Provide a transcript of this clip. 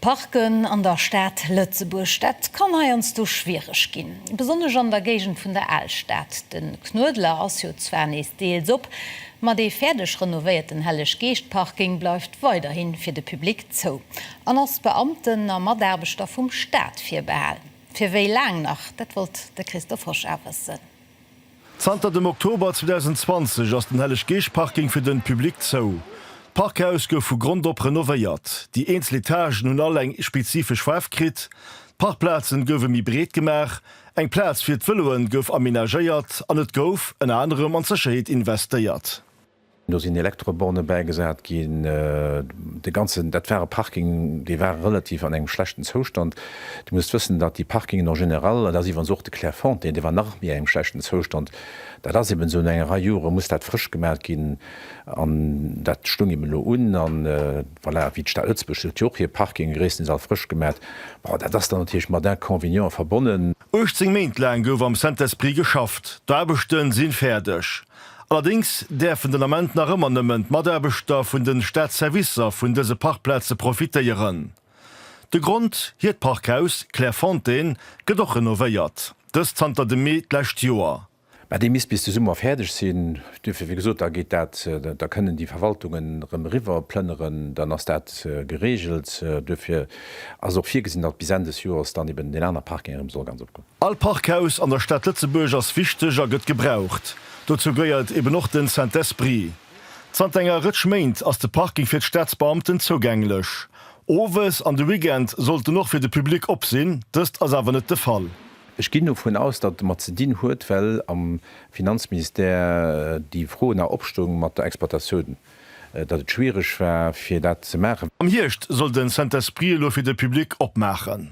Parken an der Stad Lëtzebuerg, dat kann heiansdo schwiereg ginn, besonnesch an der Géigend vun der Alstad. De Knuedler ass jo zwar nees deels op, ma dee fäerdeg renovéierten Helleg-Geescht-Parking bleift weiderhi fir de Public zou an ass Beamten a Mataarbechter vum Staat virbehal. Fir wéi laang nach? Dat wollt de Christophe Hosch a wëssen. Zanter dem Oktober 2020 ass den Helleg-Geescht-Parking fir den Public zou. D'Parkhaus gouf vu Grond op renovéiert, déi eenzel Etagen hunn all eng spezifesch Faarf kritt, d'Parkplazen gouwen méi breet gemaach, eng Plaz fir d'Veloen gouf amenagéiert an et gouf ënner anerem an d'Sécherheet investéiert. Do sinn Elektroborne bäigesat ginn. De ganzen, dat war e Parking, dee war relativ an engem schlechten Zoustand. Dir musst wëssen, datt déi Parkingen en général, an dat ass iwwerens och de Clairefontaine, dee war nach méi engem schlechten Zoustand, dat ass eben esou, no enger Rei Jore muss dat frësch gemaat ginn an dat stoung eben elo un. A voilà, wéi d'Stad Lëtzebuerg huet jo och hir Parkinge gréisstendeels all frësch gemaat. Bon, dat ass dann natierlech mat Inconvenienten verbonnen. 18 Méint laang gouf am Saint-Esprit geschafft. D'Aarbechte sinn fäerdeg. Allerdéngs däerfen den Ament nach ëmmer nëmmen d'Mataarbechter vun de Staatsservicer vun dëse Parkplaze profitéieren. De Grond, hiert Parkhaus Clairefontaine gëtt och renovéiert, dëst zanter dem Mee d'lescht Joer. Mä dee misst bis de Summer fäerdeg sinn. Duerfir, wéi gesot, da geet dat, da kënnen déi Verwaltungen erëm eriwwer plënneren, dann ass dat geregelt. Duerfir ass och virgesinn, datt bis Enn des Joers dann eben deen aner Parking erëm soll ganz opgoen. All Parkhaus an der Stad Lëtzebuerg ass wichteg a gëtt gebraucht. Dozou gëeiert eben och den Saint-Esprit. Zanter enger Rëtsch Méint ass de Parking fir d'Staatsbeamten zougänglech. Owes an de Weekend sollt en och fir de Public op sinn, dëst ass awer net de Fall. Ech ginn dovun aus, datt et domat ze dinn huet, well am Finanzministère déi Fro nach opstoung mat der Exploitatioun, datt et schwiereg war, fir dat ze maachen. Am Hierscht soll de Saint-Esprit elo fir de Public opmaachen.